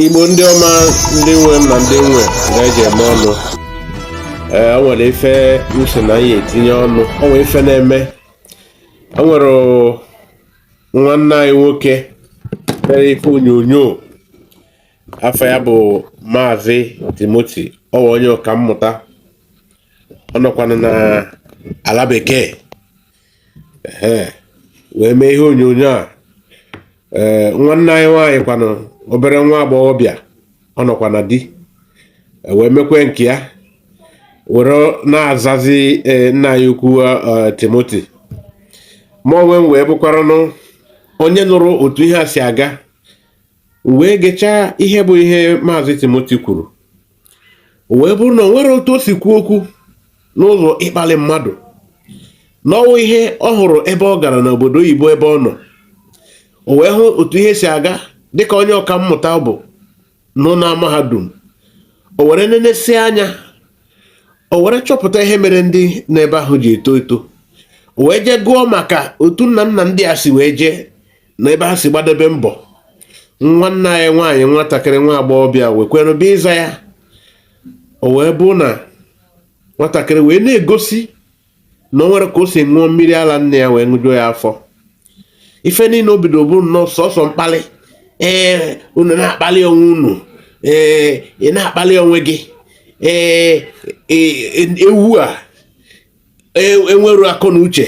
igbo ndị ọma ndị nwe m na ndị nwe ndị e ji eme ọnụ ee o nwere ife m si na ya etinye ọnụ o nwere ife na-eme o nwere nwanne anyị nwoke mere ife onyonyo afa ya bụ maazị timoti ọwa onye ọka mmụta ọ nọkwana na ala bekee wee mee ihe onyonyo a ee nwanne anyị nwaanyị kwanụ obere nwa agbọghọbịa ọ nọkwa na di e wee mekwe nke ya were na-azazi e, nna anyị ukwu e, Timoti mụ onwe m wee bụkwaranụ onye nụrụ otu ihe a si aga wee gechaa ihe bụ ihe maazị Timoti kwuru o wee bụrụ na o nwere otu o si kwuo okwu n'ụzọ ịkpali mmadụ na ọ wụ ihe ọ hụrụ ebe ọ gara n'obodo oyibo ebe ọ nọ o wee hụ otu ihe si aga dịka onye ọka mmụta bụ nọ na mahadum o were nenesi anya o were chọpụta ihe mere ndị n'ebe ahụ ji eto eto o wee jee gụọ maka otu nna nna ndị a si wee jee na ebe ha si gbadebe mbọ nwanne anyị nwaanyị nwatakịrị nwa agbọghọbịa wekwenụ bịa ịza ya o wee bụ na nwatakịrị wee na-egosi na o nwere ka o si ṅụọ mmiri ala nne ya wee ṅụjuo ya afọ ife niile o bidoro bụ nnọọ sọsọ mkpali ee unu na-akpali onwe unu ee ị na-akpali onwe gị ee e, e, ewu a enwerọ akọ na uche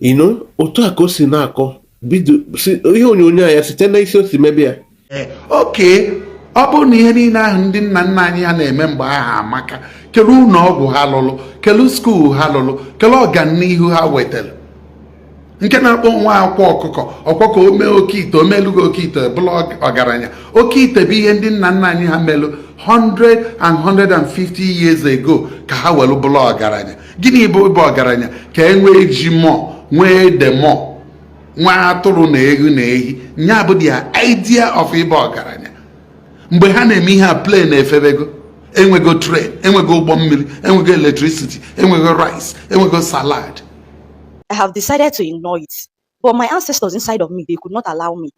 you know otu a ka o si na-akọ bido ihe onyonyo ya site na isi o si mebe ya eh, okay ọ bụrụ na ihe niile ahụ ndị nna nna anyị ha na-eme mgbe ahụ amaka kelu ụnọ ọgwụ ha lụlụ kelu school ha lụlụ kelu ọganihu ha wetelu nke na-akpọ onwe ya akwa ọkụkọ ọkwa ka o mee oke ite o meelu gị oke ite bụlụ ọgaranya oke ite bụ ihe ndị nna nna anyị ha melụ 150 years ago ka ha welu bụlụ ọgaranya gịnị bụ ịbụ ọgaranya ka e nwee ji mọ nwee ede mọ nwee atụrụ na ewu na ehi nya bụ their idea of ịbụ ọgaranya mgbe ha na-eme ihe a plane efebego enwego train enwego ụgbọ mmiri enwego electricity enwego rice enwego salad I have decided to ignore it, but my ancestors inside of me, they could not allow me.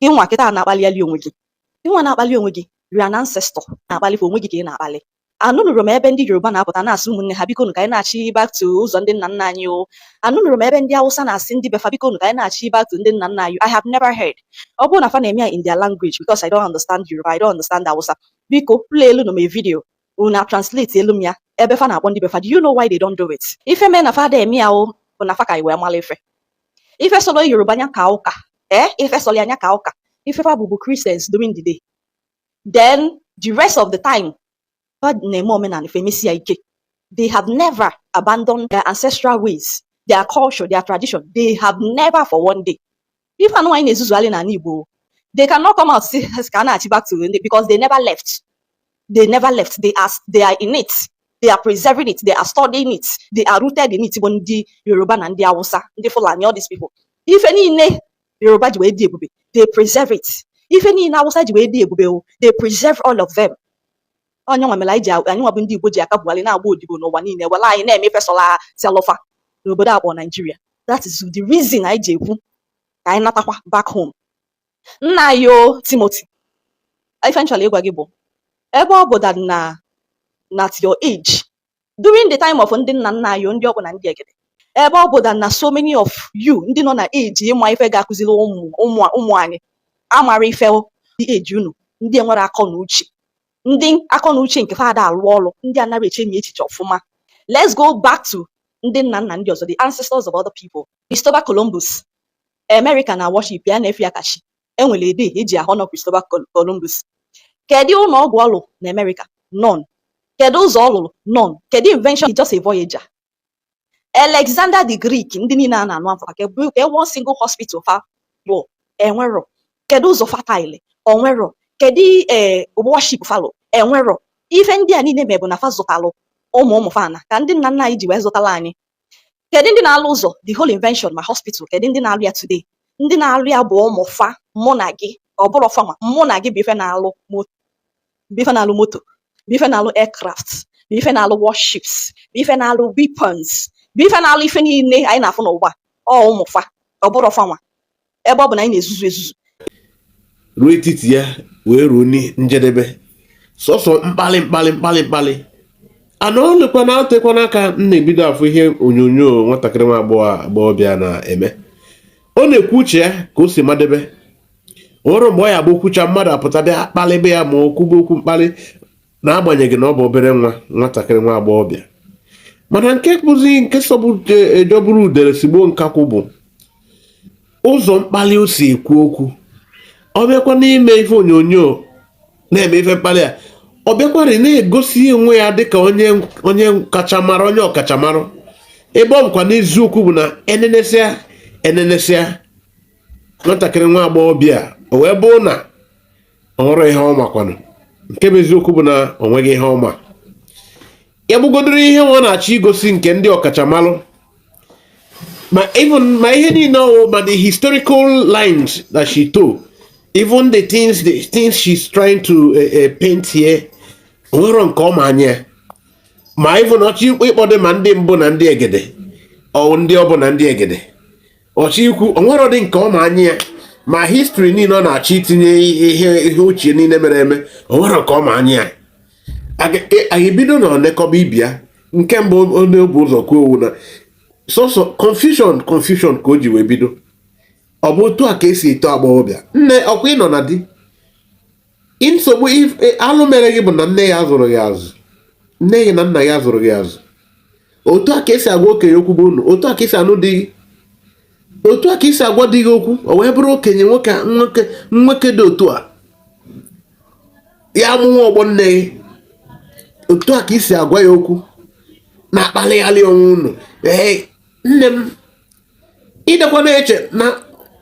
Gị nwa kịta na-akpali onwe gị. Gị nwa na-akpali onwe gị, you are an ancestor na-akpali fa onwe gị ka ị na-akpali. Anụnurọ m ebe ndị Yoruba na-apụta na-asị ụmụnne ha bikonu ka anyị nachi back to ụzọ ndị nna nna anyị o. Anụnurọ m ebe ndị Hausa na-asị ndị be fa bikonu ka anyị nachi back to ndị nna nna anyị. I have never heard. Ọ bụrụ na fa na-eme ya in their language because I don't understand Yoruba, I don't understand Hausa. Biko, play elu nụ m a video una translate elu m ya ebe fa na-akpọ ndị be fa do you know why they don't do it ife mee na fa da eme ya ọ bụ na fa ka iwe mara ife ife solo yoruba anya ka ụka ee eh? ife solo anya ka ụka ife fa bụ bụ christians during the day then the rest of the time fa na-eme omenala fa emesi ya ike they have never abandoned their ancestral ways their culture their tradition they have never for one day Ife anwa anyị na-ezuzugharị n'ala Igbo they cannot come out sị ka a na-achị back to ndị because they never left they never left they are, they are in it they are preserving it they are studying it they are rooted in it bụ ndị Yoruba na ndị Awụsa ndị Fulani all these people ife niile Yoruba ji wee dị ebube they preserve it ife niile Awụsa ji wee dị ebube they preserve all of them ọ nya nwa mere anyị ji anyị nwa bụ ndị Igbo ji aka bugharị na-agba odibo n'ụwa niile e were anyị na-eme ife sọla selụ fa n'obodo akpọ Naijiria that is the reason anyị ji ekwu ka anyị natakwa back home nna anyị o Timothy ife m chọrọ ịgwa gị bụ ebe ọ bụ that na at your age during the time of ndị nna nna anyị ndị mbụ na ndị egede ebe ọ bụ na so many of you ndị nọ na age ịma ife ga-akụziri ụmụ anyị amarọ ife ndị age unu ndị enwerọ akọ na uche ndị akọ na uche nke fa da alụ ọrụ ndị anaghị echemi echiche ọfụma let's go back to ndị nna nna ndị ọzọ the ancestors of other people Christopher Columbus America na worship ya na-efe ya ka chi e nwere a day e ji a-honour Christopher Columbus kedu ụlọ ọgwụ ọ lụrụ na Amerịka none kedu ụzọ ọ lụrụ none kedu invention just a voyager Alexander the Greek ndị niile a na-anụ afa kee one single hospital fa bụ enwerọ kedu ụzọ fa talụ o nwerọ kedu ee eh, warship fa lụ enwerọ ife ndị a niile me bụ na fa zụtalụ ụmụ ụmụ fa na ka ndị nna nna anyị ji wee zụtala anyị kedu ndị na-alụ ụzọ the whole invention ma hospital kedu ndị na-alụ ya today ndị na-alụ ya bụ ụmụ fa mụ na gị ọ bụrọ fa nwa mụ na gị bụ ife na-alụ moto bụ ife na-alụ moto bụ ife na-alụ aircraft bụ ife na-alụ warships bụ ife na-alụ weapons bụ ife na-alụ ife niile anyị na-afụ n'ụwa ọ ụmụ fa ọ bụrọ fa nwa ebe ọ bụ na anyị na-ezuzu ezuzu ruo etiti ya wee ruo njedebe sọsọ mkpali mkpali mkpali mkpali anọọlekwa nọtekwanụ aka m na-ebido afụ ihe onyonyo nwatakịrị nwa agbọghọ agbọghọbịa na-eme ọ na-ekwu uche ya ka o si madebe o ruo mgbe ọ ya-abụ o kwuchaa mmadụ apụta bịa kpalịbe ya ma ọ kwube okwu mkpali n'agbanyeghị na ọ bụ obere nwa nwatakịrị nwa agbọghọbịa mana nke bụzi nke sọgbu e jọgburu e, udere sigbuo nkakwụ bụ ụzọ mkpali o si ekwu okwu ọ bịakwa n'ime ife onyonyo na-eme ife mkpali a ọ bịakwarị na-egosi onwe ya dịka onye onye kachamara onye ọkachamara ebe ọ bụkwanụ eziokwu bụ na e nenesịa e nenesịa nwatakịrị nwa agbọghọbịa o wee bụrụ na o nwere ihe ọ ma kwanụ nke bụ eziokwu bụ na o nweghị ihe ọ ma ya bụgodoro ihe ọ na-achọ igosi nke ndị ọkachamalụ ma even ma ihe niile ọ wụ ma the historical lines that she told even the things the things she's trying to uh, uh, paint here o nwerọ nke ọ ma anya ma even ọ chọ ịkpọdụ ma ndị mbụ na ndị egede ọ ndị ọbụ na ndị egede ọ chọ ikwu o nwerọdị nke ọ ma anya ya ma history niile ọ na-achọ itinye ihe ihe ochie niile mere eme o nwerọ nke ọ ma anya ya anyị e, bido na onye kọba ibe ya nke mbụ onye bu ụzọ kwuo okwu na sọsọ confusion confusion ka o ji wee bido ọ bụ otu a ka esi eto agbọghọbịa nne ọ kwa ị nọ na di nsogbu e, alụ mere gị bụ na nne gị azụrọ gị azụ nne gị na nna gị azụrọ gị azụ otu a ka esi agwa okenye okwu bụ unu otu a ka esi anụ di gị otu a ka esi agwa di gị okwu o wee bụrụ okenye nwoke nwoke nwoke dị otu a ya amụwa ọgbọ nne gị otu a ka i si agwa ya okwu na-akpalịghalị onwe unu ee nne m ị dịkwa na-eche na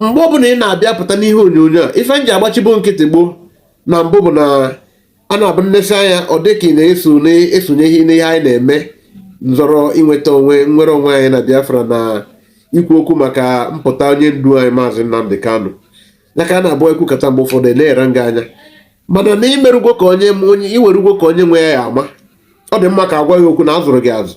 mgbe ọbụla ị na-abịa pụta n'ihe onyonyo a ife m ji agbachibo nkịtị gboo na mbụ bụ na a na-abụ enesie anya ọ dị ka ị na-eso na-esonye n'ihe anyị na-eme nzọrọ inweta onwe nwere onwe anyị na Biafra na ikwu okwu maka mpụta onye ndu anyị maazị Nnamdi Kanu ya ka a na-abụ ekwukata mgbe ụfọdụ eleghara gị anya mana na i merugwo ka onye onye i werugwo ka onye nwe ya ama ọ dị mma ka agwa gị okwu na azụrọ gị azụ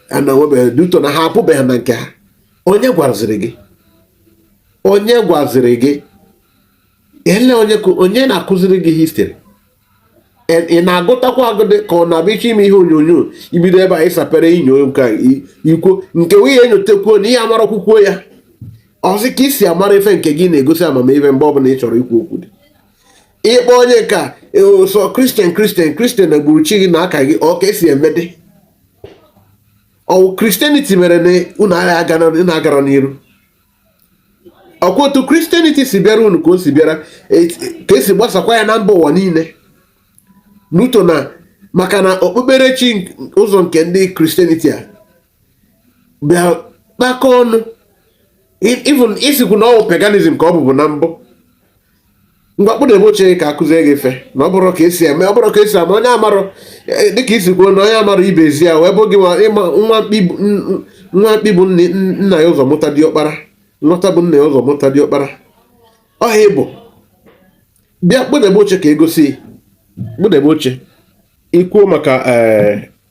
na enwebeghịdị uto na ha apụbeghị na nke ha onye gwaziri gị onye gwaziri gị ele onye onye na-akụziri gị history ị na-agụtakwa agụdị ka ọ na-abịa iche ime ihe onyonyo ibido ebe a ịsapere inyo nke ikwo nke nwunye enyotekwuo na ihe amara kwukwuo ya ọzọ ka esi amara ife nke gị na-egosi amamihe mgbe ọbụla ị chọrọ ikwu okwu dị ịkpọ onye ka e, sọ Christian Christian Christian na gburu chi gị na aka gị ọ ka esi emedị ọ wụ Christianity mere na unu agarọ n'iru ọ kwa otu Christianity si bịara unu ka o si bịara e, ka esi gbasakwa ya na mba ụwa niile n'uto na maka na okpukperechi ụzọ nke ndị Christianity a bịa kpakọ ọnụ even ị sịkwu na ọ wụ paganism ka ọ bụbu na mbụ ngwa kpụdebe oche ka a kụzie gị ife na ọ bụrụ ka esi eme ọ bụrụ ka esi ama onye amarụ e, dịka i si kwuo na onye amarọ ibe ezi ya wee bụ gị ịma nwa mkpi bu nna ya ụzọ mụta diọkpara nwata bu nna ya ụzọ mụta diọkpara ọ ihe ị bụ bịa kpụdebe oche ka egosi kpụdebe oche i kwuo maka e,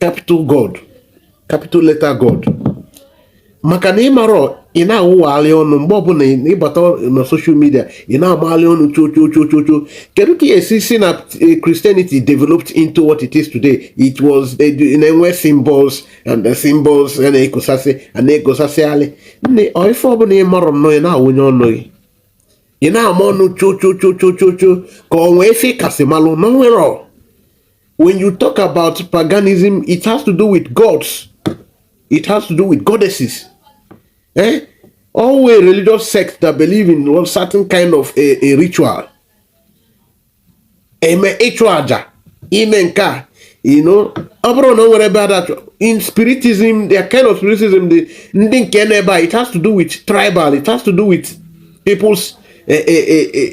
capital god capital letter god maka na ịmarọ ị na-awụwagharị ọnụ mgbe ọbụla ị bata na social media ị na-agbagharị ọnụ chochochochocho kedu ka esi si na eh, Christianity developed into what it is today it was eh, na-enwe symbols and the symbols a na-ekosasị a na-ekosasịalị nne ife ọbụla ị marọ nnọọ ị na-awụnye ọnụ gị ị na-ama ọnụ chochochochochocho ka ọ nwee ife kasị malụ na nwere when you talk about paganism, it has to do with gods, it has to do with goddesses. Eh? All a religious sect that believe in one certain kind of a, a ritual. Ime ịchụ aja ime nke a you know ọ bụrụ na o nwere ebe ada in spiritism their kind of spiritism the ndị nke n'ebe a it has to do with tribal it has to do with people's uh, uh, uh,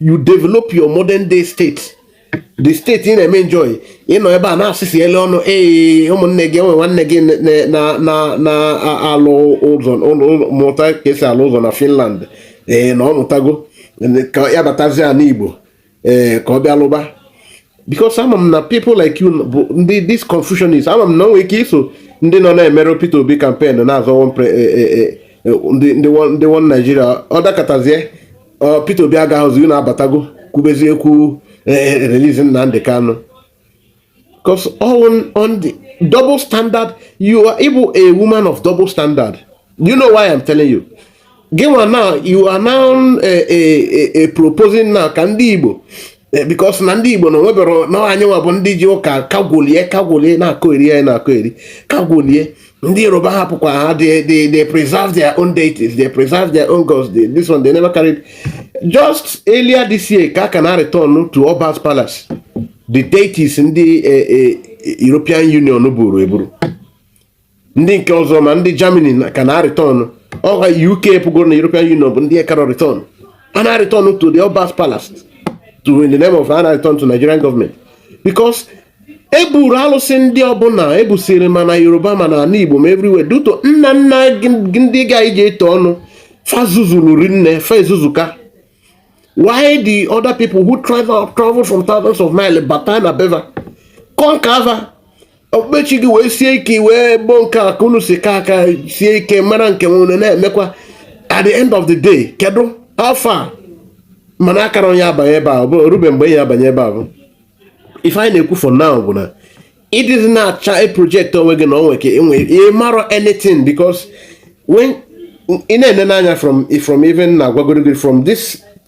you develop your modern day state the state ị na-eme enjoy ị nọ ebe a na-asịsị ele ọnụ ee ụmụnne gị enwe nwanne gị na-alụ ụzọ mụta ka esi alụ ụzọ na Finland ee na ọ mụtago ka ya batazie ana Igbo ee ka ọ bịa lụba because ama m na people like you bụ ndị this confusion is ama m na o nwere ike iso ndị nọ na-emere Peter Obi campaign na-azọ one pre- eh, eh, eh, eh, ndị ndị one- ndị one Nigeria ọ dakatazie ọ, Peter Obi agaghịzi unu abatago kwubezie ekwu eh, eh, release Nnamdi Kanu because all on, on the double standard you are ị bụ a woman of double standard you know why I'm telling you gị nwa now you are now a, eh, a, eh, a eh, proposing now ka ndị Igbo because na ndị Igbo na o nwebere na anyị nwa bụ ndị ji ụka kagwolie kagwolie na-akọ eri anyị na-akọ eri kagwolie ndị Yoruba hapụkwa ha they they they preserve their own deities they preserve their own gods they, this one they never carried just earlier this year ka ka a na return to Oba's Palace the deities ndị eh, eh, European Union buru eburu ndị nke ọzọ ma ndị Germany ka a na return ọha UK pụgoro na European Union bụ ndị karọ return a na return to the Oba's Palace to in the name of a na return to Nigerian government because eburu alụsị ndị ọbụla ebusiri ma na Yoruba ma na ana Igbo ma everywhere due to nna nna ndị ga i ji etu ọnụ fa zuzulu rinne fa ezuzuka while the other people who travel travel from thousands of miles bata na be va conquer okpukpechi gị wee sie ike wee gboo nke a ka unu si ka aka sie ike mara nke nwere na-emekwa at the end of the day kedu how far mana akara onye abanye ebe a rube mgbe ya abanye ebe a bụ ife anyị na-ekwu for now bụ na ị dịzi na-achọ e project onwe gị na onwe ka enwe ị marọ anything because when ị na-ene n'anya from from even na-agwagoro gị from this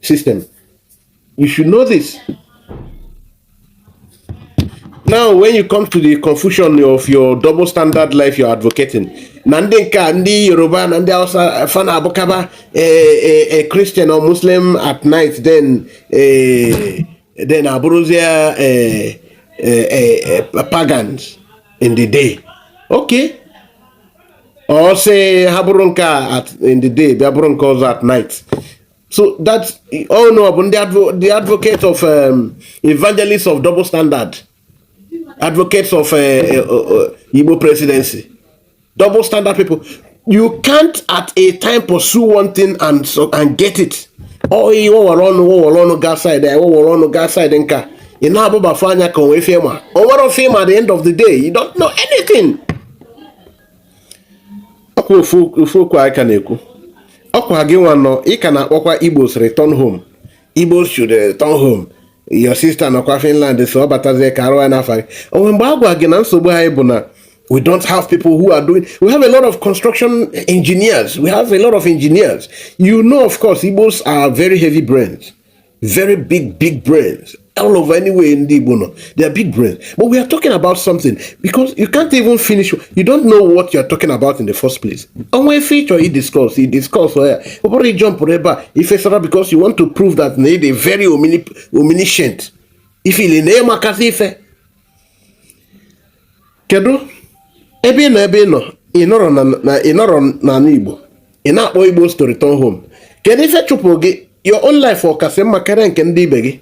system. You should know this. Now, when you come to the confusion of your double standard life you're advocating, na ndị nke a ndị Yoruba na ndị Hausa fa na-abụkaba a eh, eh, eh, Christian or Muslim at night then then abụrụzie pagans in the day. Okay. Ọ sị ha bụrụ nke a in the day bịa bụrụ nke ọzọ at night. so that unu bụ ndị advocate of um, evangelists of double standard advocates of uh, uh, uh, Igbo presidency double standard people you can't at a time pursue one thing and so, and get it ọ ihe wọwara ọnụ wọwara ọnụ gaa side ya wọwara ọnụ gaa side nka ị na-abụbafe anya ka o nwe ife ị ma o nwerọ ife ị ma at the end of the day you don't know anything ọkwa ofu okwu anyị ka na-ekwu ọkwa gị nwa nọ ị ka na-akpọkwa Igbos return home Igbos should return home your sister nọkwa Finland so ọ batazie ka arụ ya n'afọ gị o nwe mgbe a gwa gị na nsogbu anyị bụ na We don't have people who are doing. We have a lot of construction engineers. We have a lot of engineers. You know, of course, Igbos are very heavy brains. very big big brains all over anywhere in the Igbo they are big brains but we are talking about something because you can't even finish you don't know what you are talking about in the first place onwe feature he discuss he discuss ya ọ bụrụ ijump ebe a ifesara because you want to prove that na ịdị very omniscient ifili na ịmakasị ife kedu ebe ị nọ ebe ị nọ ị nọrọ na ị nọrọ n'ala Igbo ị na-akpọ Igbos to return home kedu ife chụpụ gị your own life ọ kasị mma karịa nke ndị ibe gị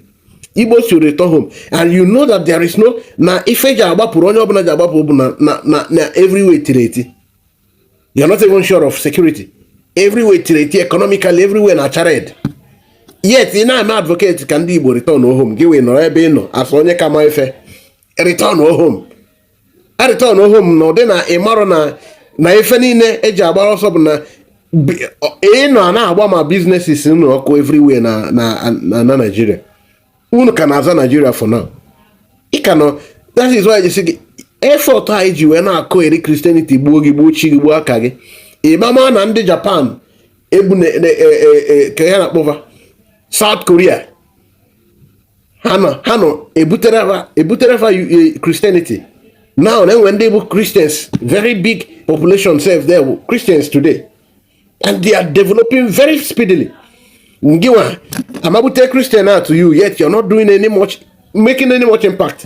Igbos to return home and you know that there is no na ife ji agbapụrụ onye ọbụla ji agbapụ bụ na na na everywhere tiri eti you are not even sure of security everywhere tiri eti economically everywhere na-acha red yet ị na-eme advocate ka ndị Igbo return home gị wee nọrọ ebe ị nọ asụ onye ka ma ife return home return home na ụdị na ị marụ na na ife niile eji agbara ọsọ bụ na a nọ na-agba ma businesses unu ọkụ everywhere na na na Nigeria unu ka na-aza Nigeria for now ị ka nọ that is why gị effort anyị ji wee na-akụ e jiri Christianity gbuo gị gbuo chi gị gbuo aka gị ịma ma na ndị Japan ebu e, e, e, ka a na-akpọ fa South Korea ha nọ ha nọ ebutere fa ebutere fa Christianity eh, now na e nwe ndị bụ christians very big population sef there bụ christians today and they are developing very speedily ngịwa amabute christian out to you yet you're not doing any much making any much impact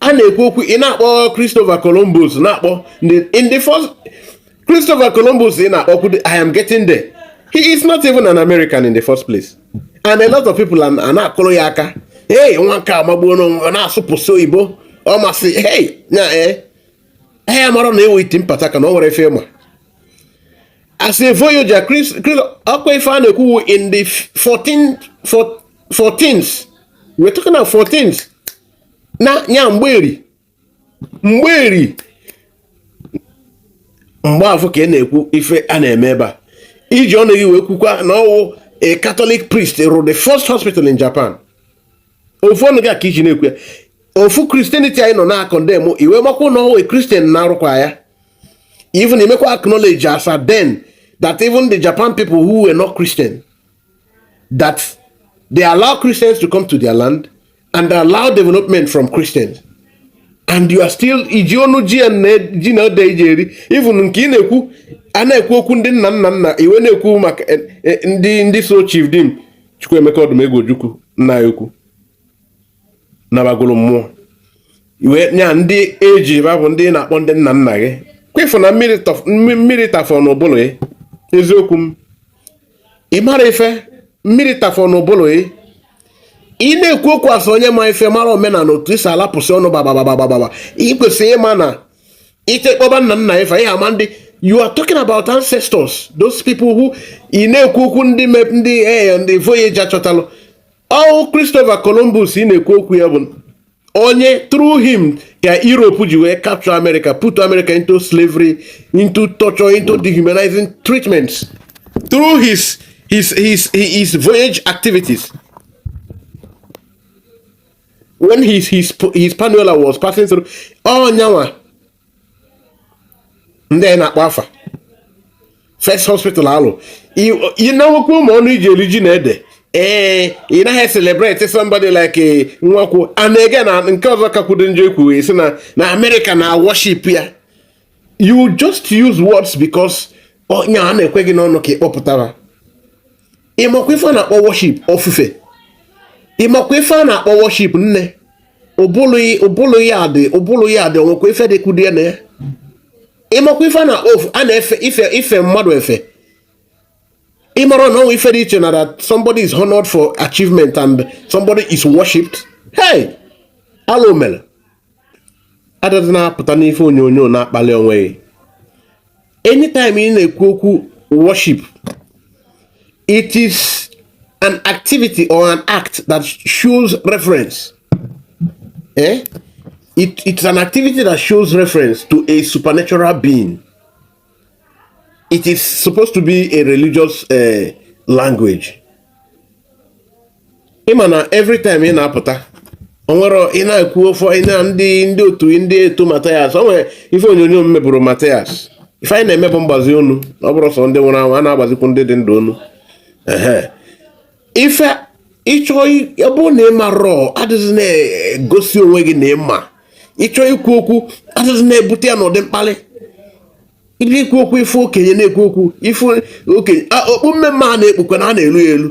a na-ekwu okwu ị na-akpọ Christopher Columbus na-akpọ in the first Christopher Columbus ị na-akpọkwu I am getting there he is not even an American in the first place and a lot of people a na-akụrụ ya aka hey nwa nke a amagbuo onwe na-asụpụsị oyibo ọ masị hey nya ee eh, eh, ya amarọ na ọ wụ iti mpataka na o nwerọ ife ọ ma as a voyager Chris ọkwa ife a na-ekwu wụ in the 14 14s we're talking about 14s na ya mgberi mgberi mgbe afụ ka ị na-ekwu ife a na-eme ebe a iji ọnụ gị wee kwukwa na ọwụ a Catholic priest rụrụ the first hospital in Japan ofu ọnụ gị ka iji na-ekwu ya ofu Christianity a ị nọ na-condemn i wee makwa na ọwụ Christian na-arụkwa ya even emekwa acknowledge as at then that even the Japan people who were not Christian that they allow Christians to come to their land and allow development from Christians and you are still iji ọnụ gị ya na ji na ede iji eri even nke ị na-ekwu a na-ekwu okwu ndị nna nna nna i wee na-ekwu maka eh, eh, ndị ndị so Chief Dim Chukwuemeka Odumegwu Ojukwu nna ya ukwu nabagoro mmụọ iwe ya ndị eji ba bụ ndị na-akpọ ndị nna nna gị kwefu na mmiri tafọ n'ụbụrụ gị eziokwu m ị mara ife mmiri tafọ n'ụbụrụ gị ị na-ekwu okwu as onye ma ife mara omenala otu i si alapụsị ọnụ gbagbagbagbagba ị kwesịrị ịma na ite kpọba nna nna ife ihe ama ndị you are talking about ancestors those people who ị na-ekwu okwu ndị ndị ee eh, ndị voyager chọtalụ ọwụ Christopher Columbus ị na-ekwu okwu ya bụ onye through him ka Europe ji wee capture America put America into slavery into torture into dehumanizing treatments through his his his his voyage activities when his his his Panola was passing through ọnyanwa ndị a ị na-akpọ afa first hospital alụ ị na-enwekwa ụmụ ọnụ iji eri ji na ede ee eh, ị naghị celebrate somebody like eh, nwakwu and again na nke ọzọ kakwudo njọ ikwu sị na na America na worship ya you just use words because onye a na-ekwe gị n'ọnụ ka ị kpọpụtara ịmakwa ife a na-akpọ worship ofufe ịmakwa ife a na-akpọ worship nne ụbụlụ ya dị ụbụlụ ya dị o nwekwa ife dị kudie na ya ịmakwa ife a na-akpọ ofu a na-efe ife ife mmadụ efe ịmara na o nwe ife dị iche na that somebody is honored for achievement and somebody is worshipped hey alụ mere adịghị na-apụta n'ife onyonyo na-akpali onwe gị anytime ị na-ekwu okwu worship it is an activity or an act that shows reference eh? it, it's an activity that shows reference to a supernatural being it is supposed to be a religious uh, language ịma na every time ị na-apụta onwere ị na-ekwu ofe ị na ndị ndị otu ndị otu Mathias o nwere ife onyonyo m mebụrụ Mathias ife anyị na-eme bụ mgbazi onu ọ bụrọ sọ ndị nwụrụ anwụ a na-agbazikwu ndị dị ndụ onu ife ịchọ ọ bụrụ na ị marọ adịghị na-egosi onwe gị na ịma ịchọ ikwu okwu adịghị na-ebute ya n'ụdị mkpali ị bịa ikwu okwu ife okenye na-ekwu okwu ife okenye okpu mmemme a na-ekpukwa na a na-elu ya elu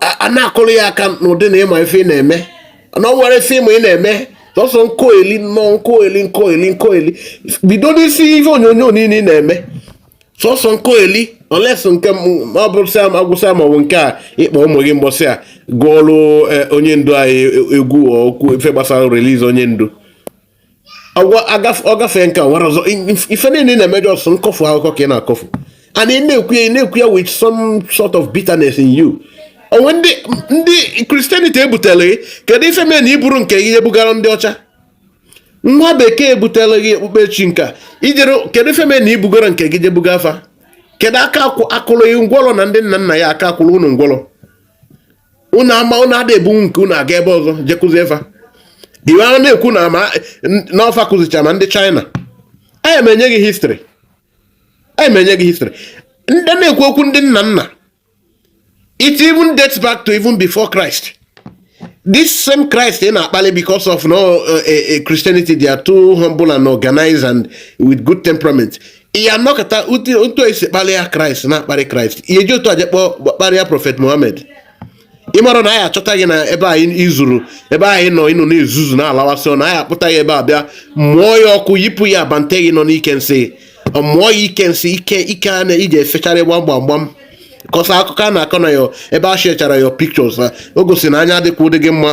a na-akụrụ ya aka n'ụdị na ịma ife ị na-eme na ọ nwere ife ịma ị na-eme sọsọ nkoeli nnọọ nkoeli nkoeli nkoeli bido n'isi ife onyonyo niile ị na-eme sọsọ nkoeli unless nke ọ bụrụ sị agwụsị ma ọ bụ nke a ịkpọ ụmụ gị mbọsị a gụọrụ e, onye ndu anyị e, egwu okwu ife gbasara release onye ndu ọ gafee nke nwere ọzọ ife niile na-eme just nkọfu akụkọ ka ị na-akọfu and ị na-ekwu ya ị na-ekwu ya with some sort of bitterness in you onwe ndị ndị Christianity ebutere gị kedu ife mee na iburo nke gị ebugara ndị ọcha nwa bekee ebutere gị okpukpechi nka ijere kedu ife mee na ibugaro nke gị je buga fa kedu aka a kụrụ gị ngwọrọ na ndị nna nna ya aka a kụrụ unu ngwọrọ unu ama unu ada ebu nke unu aga ebe ọzọ je kụzie fa i wee na-ekwu na ma na ọ fa kụzicha ma ndị China anyị ma enye gị history anyị ma enye gị history ndị na-ekwu okwu ndị nna nna it even dates back to even before Christ this same Christ ị na-akpali because of no uh, uh, uh, Christianity they are too humble and organized and with good temperament ị ya anọkata otu esi kparịa Christ na-akparị Christ ihe ji otu a je kpọọ kparịa Prophet Mohammed ị mara na anyị achọta gị na ebe anyị izuru ebe anyị nọ ịnọ na-ezuzu na-alawasị ọ na anyị akpụta gị ebe a bịa mụọ ya ọkụ yipụ ya bante gị nọ n'ike nsị mụọ ya ike nsị ike ike a na iji efecharị gbam gbam gbam kọsa akụkọ a na-akọ na ya ebe a sharechara your pictures o gosi na anya adịkwa ụdị gị mma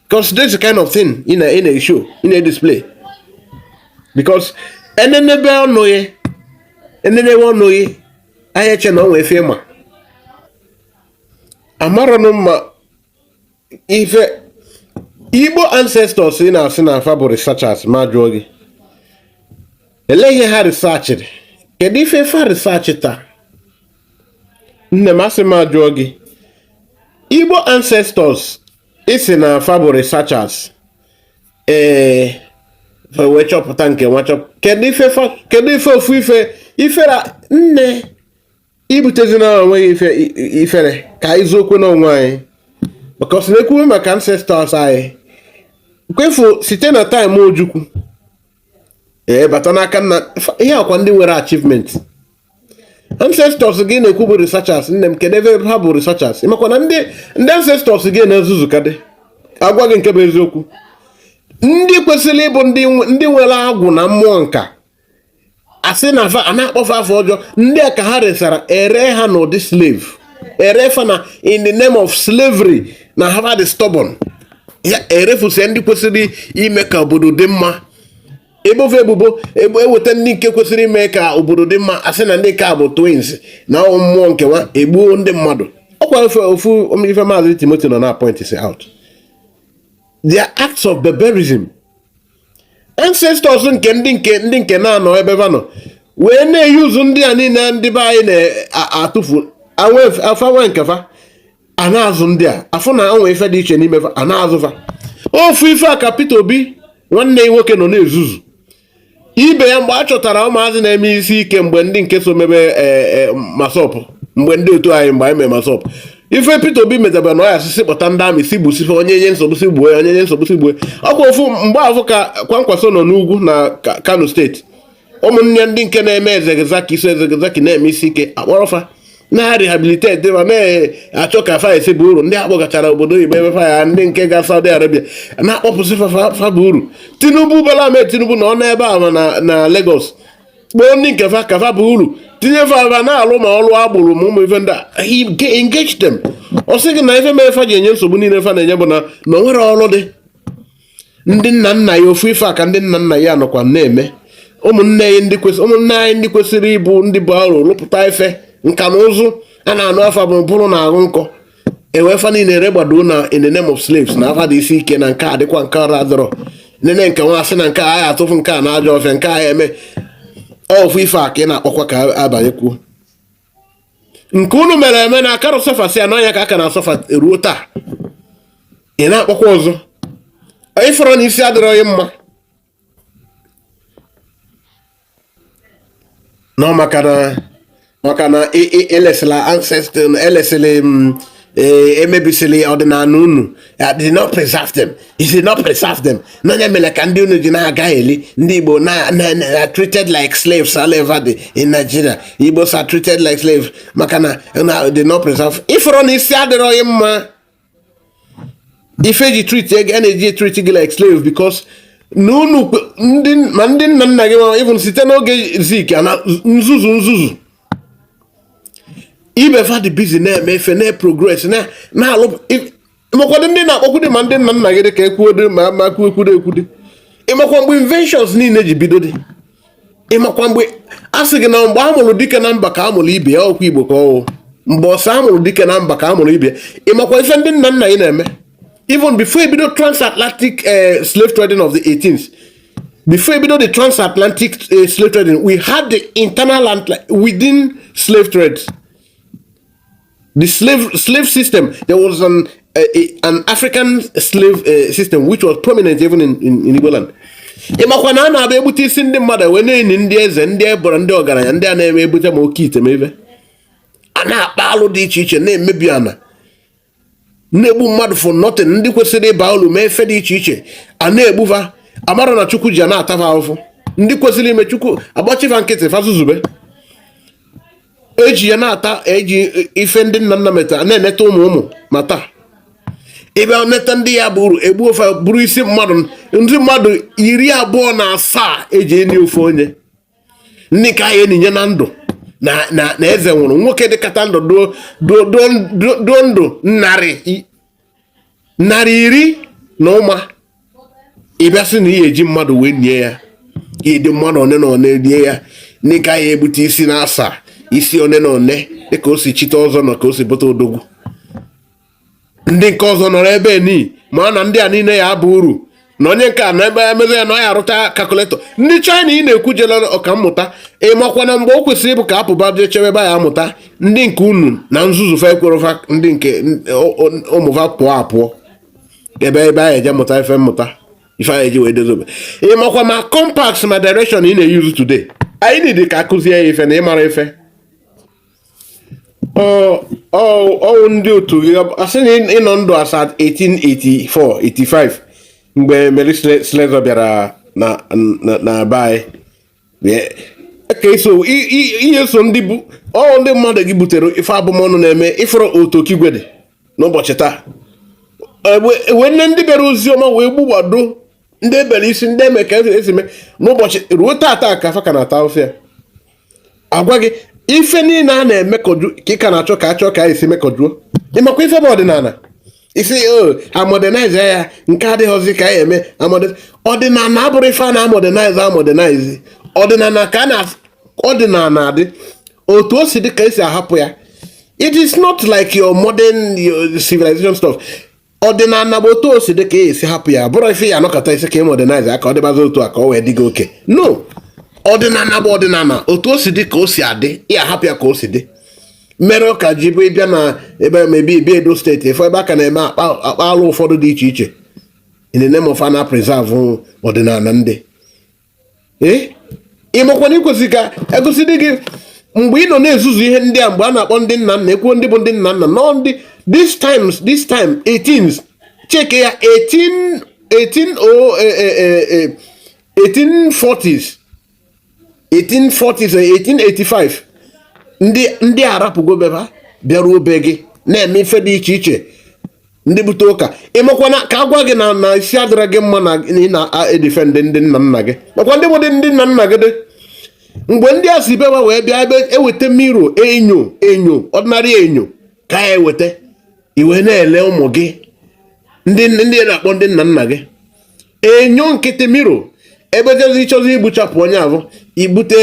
because this kind of thing ị na-eshow ị na-edisplay because enenebe ọnụ ya enenebe ọnụ ya anya e chee na ọ nwee ife ọ ma amaranụ mma ife igbo ancestors ị na-asị na fa bụ researchers m ajụọ gị elee ihe ha researchịrị kedu ife ife ha researchịta nne m asị m ajụọ gị igbo ancestors ị sị na fa bụ researchers ee eh, wee chọpụta nke nwa chọpụta kedu ife ofu ife ifere nne ibutezi na onweghị ife ifere ka anyị zuo okwe n'onwe anyị because na-ekwuwe maka ancestors anyị kwefu site na time Ojukwu ee bata n'aka nna ihe akwa ndị nwere achievement ancestors gị ị na-ekwu bụ researchers nne m kedu ebe ha bụ researchers ịmakwa na ndị ndị ancestors gị na-ezuzu kadị agwa gị nke bụ eziokwu ndị kwesịrị ịbụ ndị nwere agwụ na mmụọ nka asị na fa a na-akpọ fa afa ọjọọ ndị a ka ha resara ere ha n'ụdị slave ere fa na in the name of slavery na ha dị stubborn ya erefusie ndị kwesịrị ime ka obodo dị mma ebo fa ebubo ebo eweta ndị nke kwesịrị ime ka obodo dị mma asị na ndị ka bụ twins na ọnwụ mmụọ nke nwa egbuo ndị mmadụ ọkwa ofe ofu ife maazị Timothy nọ na point si out their acts of barbarism ancestors nke ndị nke ndị nke na-anọ ebe va nọ wee na-ezuzu ndị a niile ndị be anyị na-atụfu fa ewe nke fa a na-azụ ndị a afụ na o nwe ife dị iche n'ime fa a na-azụ fa ofu ife a ka Peter Obi nwanne ya nwoke nọ na-ezuzu ibe ya mgbe a chọtara ụmụazị na-eme isi ike mgbe ndị nke so mebe e, e, MASSOB mgbe ndị otu anyị mgbe anyị mere MASSOB ife Peter Obi mezi bụrụ na ọ ya asị sị kpọta ndị army sị gbusie fa onye nye nsogbu sị gbue onye nye nsogbu sị gbue ọkwa ofu mgbe afụ ka Kwankwaso nọ n'ugwu na Kano State ụmụnne ndị nke na-eme El-Zakzaky eso El-Zakzaky na-eme isi ike akpọrọ fa na-rehabilitate ma na-achọ ka fa esi baa uru ndị akpọgachara obodo oyibo ebe fa ya ndị nke ga Saudi Arabia na-akpọpụsị fa baa uru Tinubu Bola Ahmed Tinubu nọ n'ebe a na Lagos kpọọ ndị nke fa ka fa baa uru tinye fa fa na-alụ ma ọlụ agbero ma ụmụ ife ndị a engage them ọ sị gị na ife mere fa ji enye nsogbu niile fa na-enye bụ na na o nwerọ ọlụ dị ndị nna nna ya ofu ife a ka ndị nna nna ya nọkwa na-eme ụmụnne anyị ndị kwesịrị ụmụnne anyị ndị kwesịrị ịbụ ndị bụ aro rụpụta ife nka na ụzụ a na-anụ afa bụ bụrụ na arụ nkọ ewe fa niile eregbado na in the name of slaves na fa dị isi ike na nke a dịkwa nke ọra dọrọ nene nke nwa asị na nke a ya atụfu nke a n'ajọ ọfịa nke a ya eme ofu ife a ka ị na-akpọkwa ka abanyekwuo nke unu mere eme na akarọ suffer sịa na ọ ya ka a ka na-suffer ruo taa ị na-akpọkwa ọzọ ị fụrụ na isi adịrọ gị mma nọ maka na maka na e, e, elesili ancestors elesili mm, e, emebisili ọdịnanị unu did not preserve them he did not preserve them na ọ ya mere ka ndị unu ji na-aga eli ndị Igbo are treated like slaves all over the in Nigeria Igbos are treated like slaves maka na did not preserve ị fụrụ na isi adịrọ gị mma ife e ji treat a na-eji treat gị like slave because na unu ma ndị nna nna gị ma even site n'oge Zik a na-ezuzu nzuzu ibe fa dị busy na-eme ife na-progress na-alụ ị makwadụ ndị na-akpọkwude ma ndị nna nna gị dị ka ekwuode ma ma kwuekwude ekwude ị makwa mgbe inventions niile ji bido dị ịmakwa mgbe a sị gị na mgbe a mụrụ dike na mba ka a mụrụ ibe ya ọkwa igbo ka ọwụ mgbe ọsọ a mụrụ dike na mba ka a mụrụ ibe ya ịmakwa ife ndị nna nna ị na-eme even before e bido transatlantic eh, slave trading of the 18th before e bido the transatlantic eh, slave trading we had the internal and within slave trade the slave slave system there was an uh, an african slave uh, system which was prominent even in, in, in igboland ịmakwa na a na-abịa egbute isi ndị mmadụ wee na-eni ndị eze ndị eboro ndị ọgaranya ndị a na-eme ebute ma oke ite ma a na-akpa alụ dị iche iche na-emebi ana na-egbu mmadụ for nothing ndị kwesịrị ịba ulu mee ife dị iche iche a na-egbu fa amara na chukwu ji a na-ata fa afụfụ ndị kwesịrị ime chukwu agbachi fa nkịtị fa zuzube eji ya na-ata eji ife ndị nna nna meta na-eneta ụmụ ụmụ ma taa ebe neta ndị ya bụrụ egbuo fa eburu isi mmadụ ndị mmadụ iri abụọ na asaa e ji eni ofu onye ndị ka a ya-eninye na ndụ na eze nwụrụ nwoke dịkata ndụ duo ndụ narị narị iri na ụma ị bịa sị na ị ya-eji mmadụ wee nie ya ị ya-eji mmadụ one na one nie ya ndị ka a ya-egbute isi na asaa isi one na one dịka o si chite ọzọ na ka o si bụta odogwu ndị nke ọzọ nọrọ ebe ni ma na ndị a niile ya-aba uru na onye nke a na ebe emezi ya na ọ ya-arụta calculator ndị china ị na-ekwu jela ọkammụta ịmakwana mgbe o kwesịrị ịbụ ka a pụba jee chebe ebe a ya-amụta ndị nke unu na nzuzu fa ekwerọ fa ndị nke ụmụ fa pụọ apụọ ebe ebe a ya-eje mụta ife mmụta ife a ya-eji wee dozobe ịmakwa ma compass ma direction ị na-eyuzu today anyị need ka a kụzie ya ife na ịmara ife ọwụ ndị otu gị a sị na ị nọ ndụ as at 1884 85 mgbe Mary Slessor bịara na na be anyị ka ị ya-eso ndị bụ ọwụ ndị mmadụ gị butere ife abụmọnụ na-eme ị fụrụ otu okigwe dị n'ụbọchị taa wee nne ndị bịara ozi ọma wee gbugbado ndị e bere isi ndị eme ka e si mee n'ụbọchị ruo taata ka fa ka na-ata ụfụ ya agwa gị ife niile a na-emekọju ka ị ka na-achọ ka achọ ka a ya-esi mekọjuo ịmakwa ife bụ ọdịnala ị sị a modernize ya nke adịghịzi ka a ya-eme amode- ọdịnala abụrụ ife a na-amodernize amodernize ọdịnala ka ọdịnala adị otu o si dị ka e si ahapụ ya it is not like your modern civilization stuff ọdịnala bụ otu o si dị ka ị ya-esi hapụ ya ọ bụrọ ife ị ya-anọkata ị sị ka ị modernize ya ka ọ dịbazi otu a ka ọ wee dị gị okay no ọdịnala bụ ọdịnala otu o si dị ka o si adị ị ya-ahapụ ya ka o si dị mere ọ ka ji bụ ị bịa na ebe maybe ebe edo state ị fụ ebe a ka na-eme akpa alụ ụfọdụ dị iche iche in the name of a na-preserve ọdịnala ndị ee ị makwana e kwesịrị ka e gosi dị gị mgbe ị nọ na-ezuzu ihe ndị a mgbe a na-akpọ ndị nna nna i kwuo ndị bụ ndị nna nna nọ ndị this times this time 18s cheekie ya 18 18 o 1840s 1840s 1885 ndị ndị arapụgo be ba bịaruo be gị na-eme ife dị iche iche ndị bute ụka ịmakwana ka a gwa gị na isi adịrọ gị mma na ị na-edefend ndị nna nna gị makwa ndị bụ ndị nna nna gị dị mgbe ndị a si be ba wee bịa ebe e weta mirror enyo enyo ordinary enyo ka e weta i wee na-ele ụmụ gị ndị ị na-akpọ ndị nna nna gị enyo nkịtị mirror egbe e jezi ịchọzi igbuchapụ onye ahụ ibute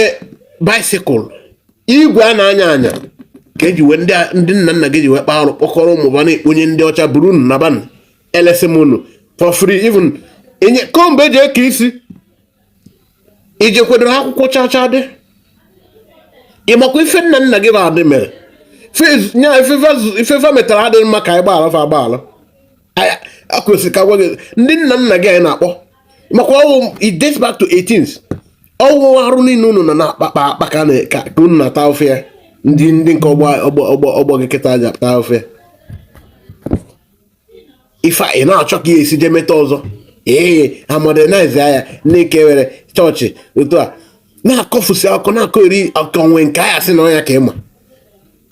bicycle igwe a na-anya anya ka e ji wee ndị nna nna gị ji wee kpaa arụ kpọkọrọ ụmụ ba na-ekponye ndị ọcha buru unu na ba na-elesi ụmụ unu for free even comb e ji eke isi i jekwedoro akwụkwọ chacha dị ịmakwa ife nna nna gị ba dị mere nya ife fa metara adịghị mma ka anyị gbaghara fa agbaghara e kwesịrị ka a gwa gị ndị nna nna gị anyị na-akpọ maka ọwụ it dates back to 18th ọwụ arụ niile unu na na-akpakpa akpa ka ka unu na-ata ofe ya ndị ndị nke ọgbọ gị kịta a ja-ata ofe ya ife ị na-achọ ka e si jee meta ọzọ ee ha modernize ya na-eke were chọọchị otu a na-akọfusi akụkọ na-akọ eri ọkọnwe nke aya sị na ọnya ka ịma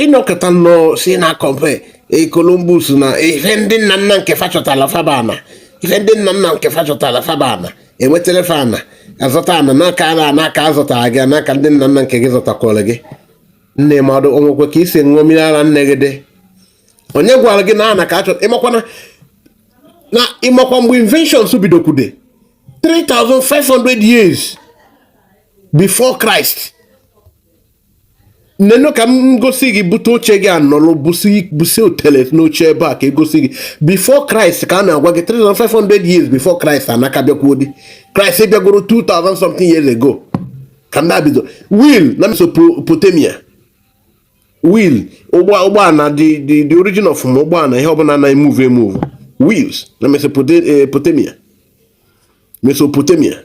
ịnọkọta nnọọ si na kọmpe e, Columbus na ife ndị nna nna nke fa chọtala fabana ife ndị nna nna nke fa chọtala fabana enwetara fa ana azọta ana n'aka ana n'aka azọtara gị n'aka ndị nna nna nke gị zọtakwara gị nne mmadụ o nwekwe ka i si ṅụọ mmiri ara nne gị dị onye gwara gị na ana ka a chọ ịmakwana na ịmakwa mgbe inventions bidokwude 3500 years before Christ nenụ ka m gosi gị bute oche gị nọrọ busi otele n'oche ebe a ka e gosi gị before Christ ka a na-agwa gị 3500 years before Christ anaka bịakwuo dị Christ bịagoro 2000 something years ago ka ndị a bido wheel na Mesopotamia wheel ụgbọala the the the origin of ma ụgbọala ihe ọbụla na-emove emove wheels na Mesopotamia Mesopotamia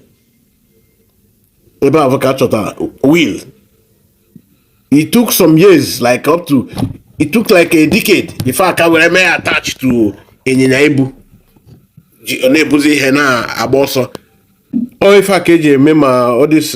ebe ahụ ka a chọtara wheel it took some years like up to it took like a decade before a ka were mee attach to ịnyịnya ibu ọ na-ebuzi ihe na-agba ọsọ ọ ife a ka e ji eme ma all this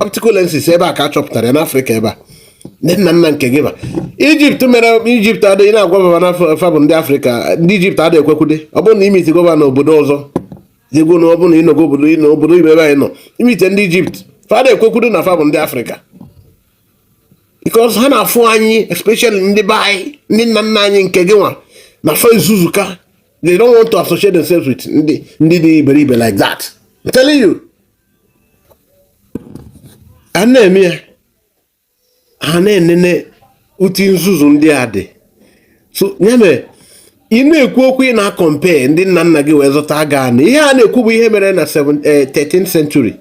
optical lenses ebe a ka a chọpụtara ya n'afrịka ebe a ndị nna nna nke gị ma ijipt mere ijipt adịghị na-agwa baba na fa bụ ndị afrịka ndị ijipt adịghị ekwekwude ọ bụrụ na i meet gọvanọ obodo ọzọ jegwo na ọ bụrụ na ị nọgo obodo ị nọ obodo oyibo ebe anyị nọ i meet ndị ijipt fa adị ekwekwudo na fa bụ ndị afrịka because ha na-afụ anyị especially ndị be anyị ndị nna nna anyị nke gị nwa na fa ezuzuka they don't want to associate themselves with ndị ndị dị iberibe like that I'm telling you a na-eme ya ha na-enene ụdị nzuzu ndị a dị so ya mere ị na-ekwu okwu ị na-compare ndị nna nna gị wee zụta aga anụ ihe a na-ekwu bụ ihe mere na 13th eh, century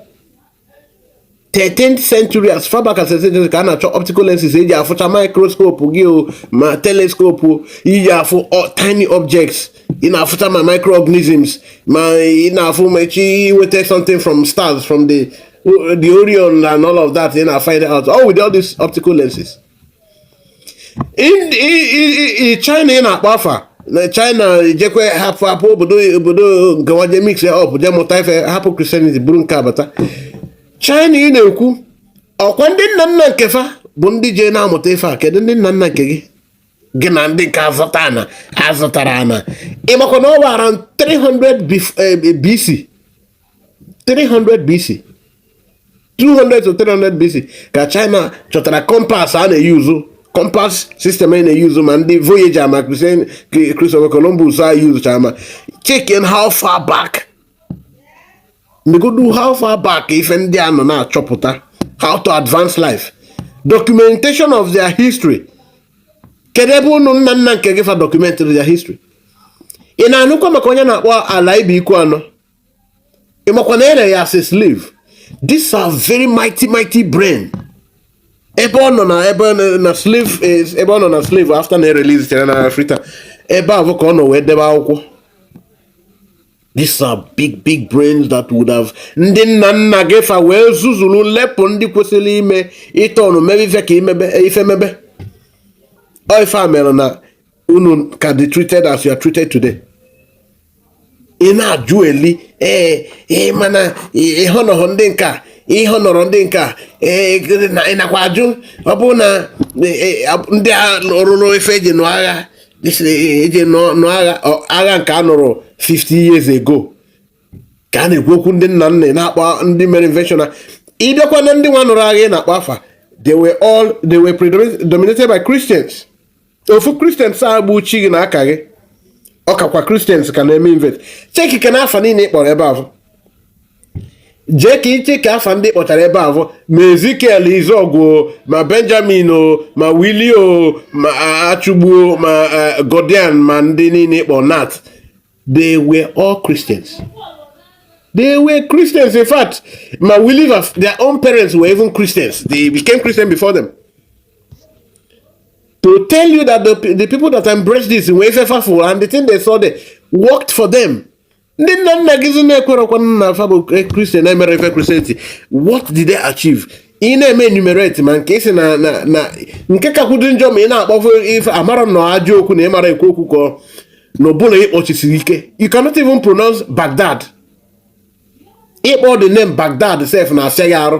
13th century as far back as 13th century ka a na-achọ optical lenses e ji afụcha microscope gị o ma telescope i ji afụ tiny objects ị na-afụcha ma microorganisms ma ị na-afụ ma e ji enweta something from stars from the the Orion and all of that ị na-find out all with all these optical lenses China ị na-akpọ afa na China ejekwe hapụ hapụ obodo obodo nke wa je mix up je mụta ife hapụ Christianity bụrụ nke abata China ị na-ekwu ọ kwa ndị nna nna nke fa bụ ndị je na-amụta ife a kedu ndị nna nna nke gị gị na ndị nke azụta ana azụtara ana ị makwa na ọ bụ around 300 BC 300 BC 200 to 300 BC ka China chọtara compass a na-eyuzu compass system a na-eyuzu ma ndị Voyager ma Christopher Columbus a yuzuchara ma checking how far back negodu how far back ife ndị a nọ na-achọpụta how to advance life documentation of their history kedu ebe ndị nna nna nke gị fa documentiri their history ị na-anụkwa maka onye a na-akpọ Olaudah Equiano ị makwa na e re ya as a slave these are very mighty mighty brain ebe ọ nọ na ebe na slave ebe ọ nọ na slave after na erelizitere na Africa ebe ahụ ka ọ nọ wee debe akwụkwọ These are big big brains that would have ndị nna nna gị fa wee zuzulu lepụ ndị kwesịrị ime ịtọ ọnụ mebe ife ka imebe e, ife mebe ọ ife a mere na unu ka dị treated as you are treated today ị na-ajụ eli ee ee mana ịhọnọhọ ndị nka ịhọ nọrọ ndị nka ee ị nakwa ajụ ọ bụrụ na e, e, ndị a rụrụ ife e ji nụ agha e ji nụ agha agha nke a nụrụ 50 years ago ka a na-ekwu okwu ndị nna nna na-akpọ ndị mere invention na ị bịakwa na ndị nwa nụrụ agha ị na-akpọ afa they were all they were predominated by Christians ofu Christians a bụ chi gị na aka gị ọ kakwa Christians ka na-eme invent chekikene afa niine ị kpọrọ ebe ahụ jee ka iche ka afa ndị kpọtara ebe a bụ ma ezikiel izọgwụ ma benjamin o ma wili o ma achụgbuo ma e, godian ma ndị niile kpọ nat they were all christians they were christians in fact ma wili their own parents were even christians they became christian before them to tell you that the, the people that embraced this were faithful and the thing they saw there worked for them ndị nna nna gị zi na-ekwerekwa na afa bụ Christian na-emere ife Christianity what did they achieve ị na-eme enumerate ma nke isi na na nke kakwudo njọ ma ị na-akpọfe ife amara na ajọ okwu na ị mara ekwu okwu kọ na ọbụla ị kpọchisiri ike you cannot even pronounce Baghdad ịkpọ the name Baghdad sef na-asịa gị arụ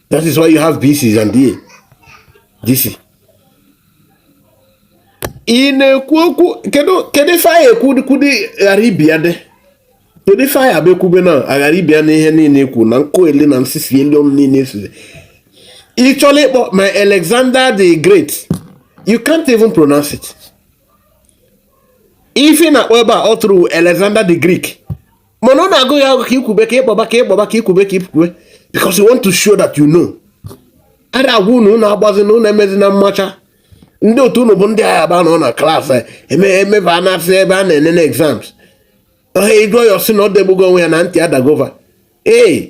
That is why you have BC and DA. DC. Ị na-ekwu okwu kedu kedu ife anyị ekwukwudi Arabia dị kedu ife anyị abịakwube na Arabia n'ihe niile ekwu na nkụ ele na nsisi elu ọnụ niile esuzi ị chọrọ ịkpọ ma Alexander the Great you can't even pronounce it ife ị na-akpọ ebe a ọ tụrụ Alexander the Greek mana ọ na-agụ gị agụ ka ikwube ka ịkpọba ka ịkpọba ka ikwube ka ikwube because you want to show that you know a na-agwa unu unu agbazi na unu emezi na mmacha ndị otu unu bụ ndị agha ba nọ na class emebe a na-asị ebe a na-enene exams ohe ị gụọ ya ọ sị na o degbugo onwe ya na ntị adagova ee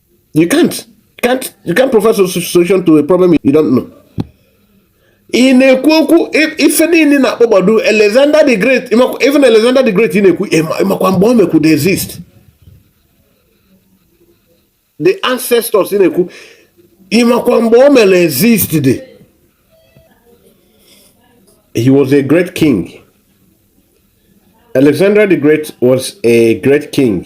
you can't can't you can't proffer a solution to a problem you don't know ị na-ekwu okwu ife niile ị na-akpọgbado Alexander the Great even Alexander the Great ị na-ekwu ị makwa mgbe o mekwudi exist the ancestors ị na-ekwu ị makwa mgbe o mere exist dị he was a great king Alexander the Great was a great king.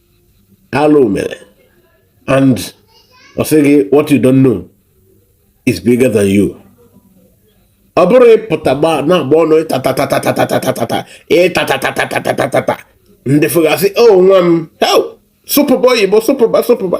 alụ mere and ọ sị gị what you don't know is bigger than you ọ bụrụ ị pụta gba na-agba ọnụ ịtatatatatatatatata ịtatatatatatatatata ndị fụ gị asị o nwa m hei sụpụba oyibo sụpụba sụpụba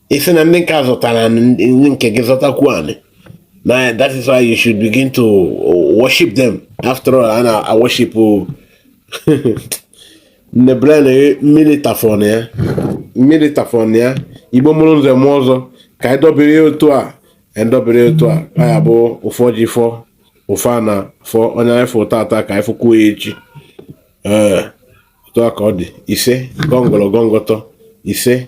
ị sị na ndị nke a zụtara anị, ndị ndị nke gị zụtakwu anị na that is why you should begin to worship them after all a na worship nne bren mmiri tafọn ya mmiri tafọn ya igbo mụrụ nze mụọ ọzọ ka anyị dọbiri ya otu a anyị dọbiri ya otu a ọ ya bụ ụfọ ji fọ ụfọ a na fọ onye anyị fụ tata ka anyị fụkwuo ya echi ee otu a ka ọ dị ise gọngọrọ gọngọtọ ise